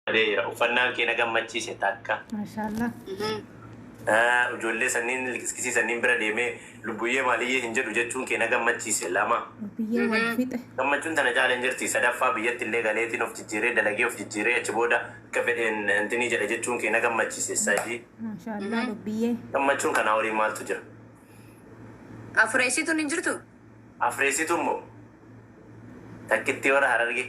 Bareera uffannaan kee na gammachiise takka. Maashaallah. Ah, Ijoollee sanniin liqiskisii sanniin bira deemee lubbuyyee maaliyyee hin jedhu jechuun kee na gammachiise lama. Biyyee wal fixe. Gammachuun tana caala hin jirti. Sadaffaa biyyatti illee galeetiin of jijjiiree dalagee of jijjiiree achi booda akka fedheen intinii jedha jechuun kee na gammachiise sadii. Maashaallah lubbiyyee. Gammachuun kanaa olii maaltu jira? Afureessituun hin jirtu? Afreessitu immoo takkittii warra harargee.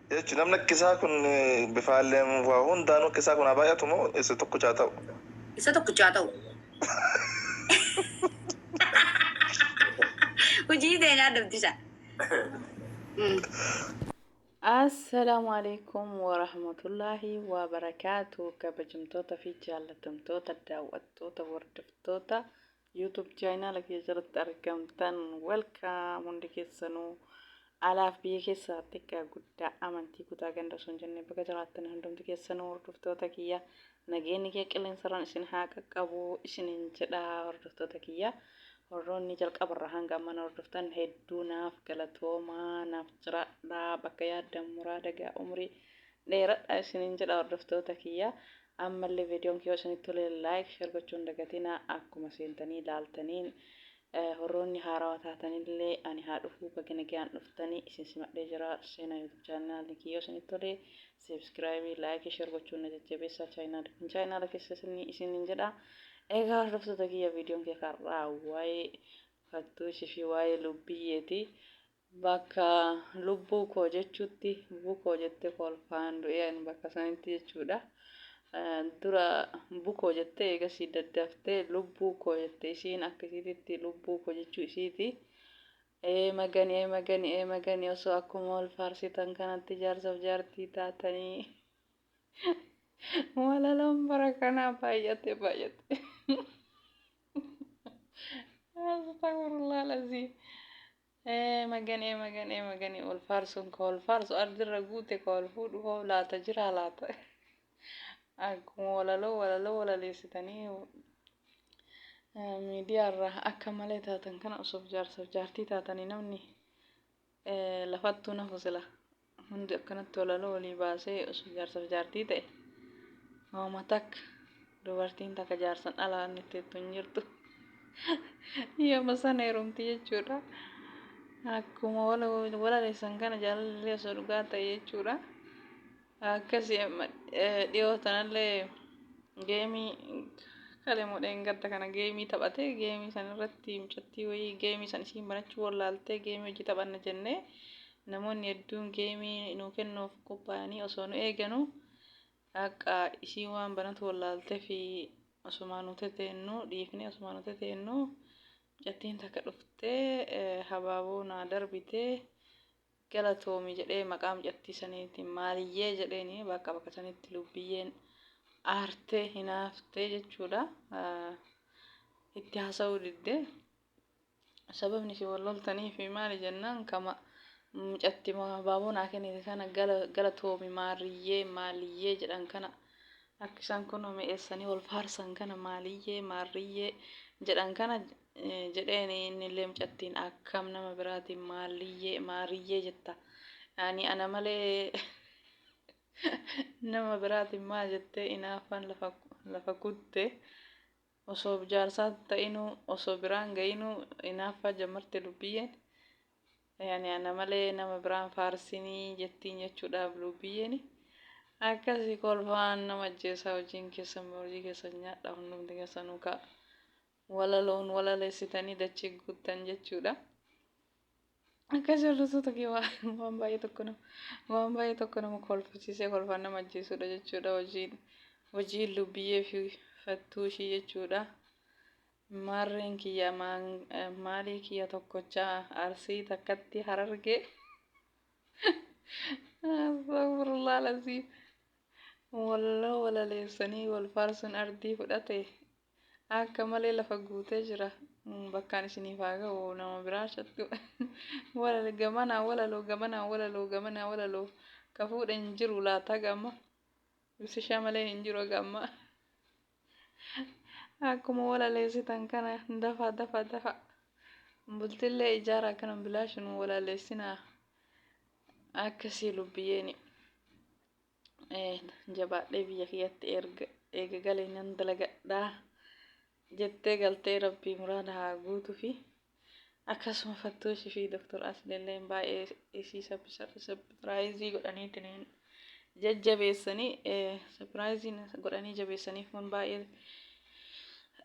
H. Namni akka isaa kun bifaaleen waa hundaanuu akka isaa kun haa baay'atu moo isa tokkicha haa ta'u? Isa tokkicha haa ta'u. Hojii ta'e nyaadamtisa. Assalaamu alaikum warahmatullaahi wabarakaatu kabajamtoota fi jaallatamtoota daawwattoota hordoftoota YouTube channel kiyya jalatti argamtan welcome hundi keessanuu alaaf biyya keessaa xiqqaa guddaa amantii kutaa ganda osoo hin jenne baga jiraattan hundumti keessanuu hordoftoota kiyya nageenyi kee qilleensarraan isin haa qaqqabu isinin jedha hordoftoota kiyya warroonni jalqabarraa hanga amman hordoftan hedduu naaf galatoomaa naaf jiraadhaa bakka yaaddan muraa dagaa umrii dheeradha isinin jedha hordoftoota kiyya Ammalle videon kiyya yoo isinitti tole like share gochuu hin dagatina akkuma seentanii laaltaniin horroonni haarawa taatanille ani haa dhufuu baga nagayaan dhuftani isin simadhee jira seenaa youtube channel kiyya yoo isinitti tole subscribe like share gochuun na jajjabeessaa channel kun channel keessa isinni isinin jedha egaa hordoftoota kiyya videon kiyya karraa waa'ee fattuu ishii fi waa'ee lubbiyyeeti Bakka lubbuu koo jechuutti bukoo jettee kolfaan du'ee ani bakka sanitti jechuudha. Dura bukoo jettee eegasii daddaftee lubbuu koo jette isiin akka isiititti lubbuu koo jechuu isiiti. Ee magani ee magani ee magani osoo akkuma wal faarsitan kanatti jaarsaf jaartii taatanii. Walaloon bara kanaa baay'ate baay'ate. Astagfirullah lazii. Maganee maganee maganee ol faarsuun koo ol faarsu ardirra guute koo ol fuudhu hoo laata jiraa laata akkuma walaloo walaloo walaleessitanii miidiyaarra akka malee taatan kana osoof jaarsaaf jaartii taatanii namni lafattuu nafu sila Hundi akkanatti walaloo walii baasee osoo jaarsaf jaartii ta'e hooma takka dubartiin takka jaarsan ala wanni teettu hin jirtu. Yooma sana heerumti jechuudha. Akkuma walaleessan kana jaalallee osoo dhugaa ta'e jechuudha. Akkasi dhiyoo tanallee geemii kalemuu dheengadda kana geemii taphate geemii san irratti mucattii wayii geemii san isiin banachuu wallaaltee geemii hojii taphanna jennee Namoonni hedduun geemii nuu kennuuf qophaa'anii osoo nu eeganuu akka isiin waan banatu wallaalteef osumaa nu teteennuu dhiifnee osumaa nu teteennuu mucattiin takka dhuftee habaaboo naa darbite galatoomi jedhee maqaa mucattii saniitiin maaliyyee jedheeni bakka bakka sanitti lubbiyyeen aartee hinaaftee jechuudha itti haasa'uu didde. Sababni isin wal loltaniif maali jennaan ka mucatti abaaboo naa kennite kana galatoomi maarriyyee maaliyyee jedhan kana akka isaan kunoo mi'eessanii wal faarsan kana maaliyyee maarriyyee jedhan kana jedheen innillee mucattiin akkam nama biraatiin maaliyyee maariyyee jetta ani ana malee nama biraatiin maal jettee inaaffaan lafa kutte Osoo bjaarsaa ta'inuu osoo biraan ga'inuu inaaffaa jammarte lubbiyyeen yaani ana malee nama biraan faarsinii jettiin jechuudhaaf luubbiyyeni akkasi kolfaan nama ajjeesaa hojiin keessan baa hojii keessan nyaadhaa hundumti keessanuu kaa walaloon walalesitanii dachii guuttan jechuudha. Akkas jallatoo tokkee waan baay'ee tokko nama waan baay'ee tokko nama kolfachiisee kolfaan nama ajjeesudha jechuudha hojiin hojiin lubbiyyee fi fattuu ishii jechuudha. Maarreen kiyya maalii kiyya tokkochaa arsii takkatti harargee. Astagfirullah lazii. Walloo walaleessanii wal faarsuun ardii fudhate Akka malee lafa guutee jira. Bakkaan isiniif haa ga'u nama biraa chattu. Walal gamanaa walaloo gamanaa walaloo gamanaa walaloo ka fuudhe hin jiru laata haga amma. Ibsishaa malee hin jiru haga amma. Akkuma walaleessitan kana dafa dafa dafa. Bultillee ijaara akkana bilaashin walaleessinaa. Akkasii lubbiyeeni. jabaadhee biyya kiyyatti erga eega galee nan dalagadhaa jettee galtee rabbii muraada haa guutufi akkasuma fattuushi fi doktor asleelleen baay'ee isii sapiraayizii godhaniitiniin jajjabeessanii sapiraayiziin godhanii jabeessaniif kun baay'ee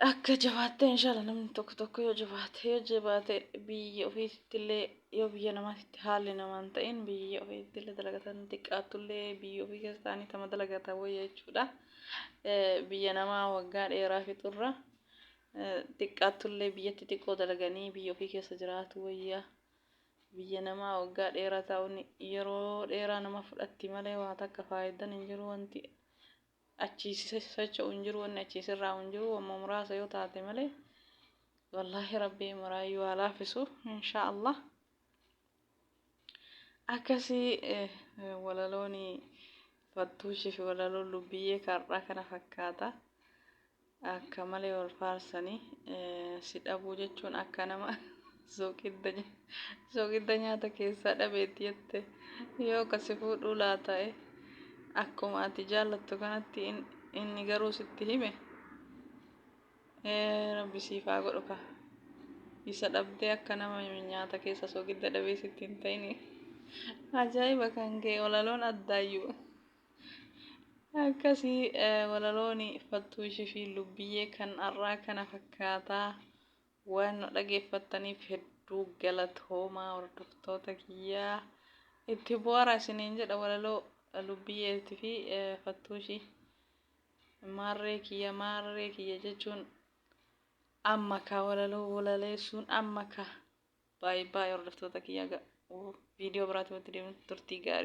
Akka jabaattee inshaalla namni tokko tokko yoo jabaate yoo jabaate biyya ofiittillee yoo biyya namaatitti haalli namaan ta'in biyya ofiittillee dalagatan xiqqaattullee biyya ofii keessa ta'anii tama dalagatan wayya jechuudha. Biyya namaa waggaa dheeraa fixurra xiqqaattullee biyyatti xiqqoo dalaganii biyya ofii keessa jiraatu wayya. Biyya namaa waggaa dheeraa ta'uun yeroo dheeraa nama fudhatti malee waa takka faayidaan hin jiru wanti achii socho'u hin jiru wanni achii sirraa'u hin jiru wamma muraasa yoo taate malee wallaahi rabbii maraayyuu haa laafisu insha allah akkasii eh, eh, walalooni fattuushii fi walaloon lubbiyyee kar'aa kana fakkaata Akka malee wal faarsanii si dhabuu jechuun akka nama sooqidda nya- sooqidda nyaata keessaa dhabeetti jette yoo ka si fuudhuu laata'e akkuma ati jaallattu kanatti in- inni garuu sitti hime ee rabbi siif haa godhu ka isa dhabdee akka nama nyaata keessa sooqidda dhabee sitti hin ta'ini ajaa'iba kan kee walaloon addaayyuu Akkasi walalooni Faltuu Ishifi Lubbiyyee kan har'aa kana fakkaata. Waan nu dhageeffattaniif hedduu galatoomaa hordoftoota kiyyaa. Itti bu'aara isiniin jedha walaloo Lubbiyyeetii fi Faltuu Ishii. Maarree kiyya maarree kiyya jechuun amma ka walaloo walaleessuun amma ka baay'ee baay'ee hordoftoota kiyyaa viidiyoo biraatti walitti deemuun turtii gaarii.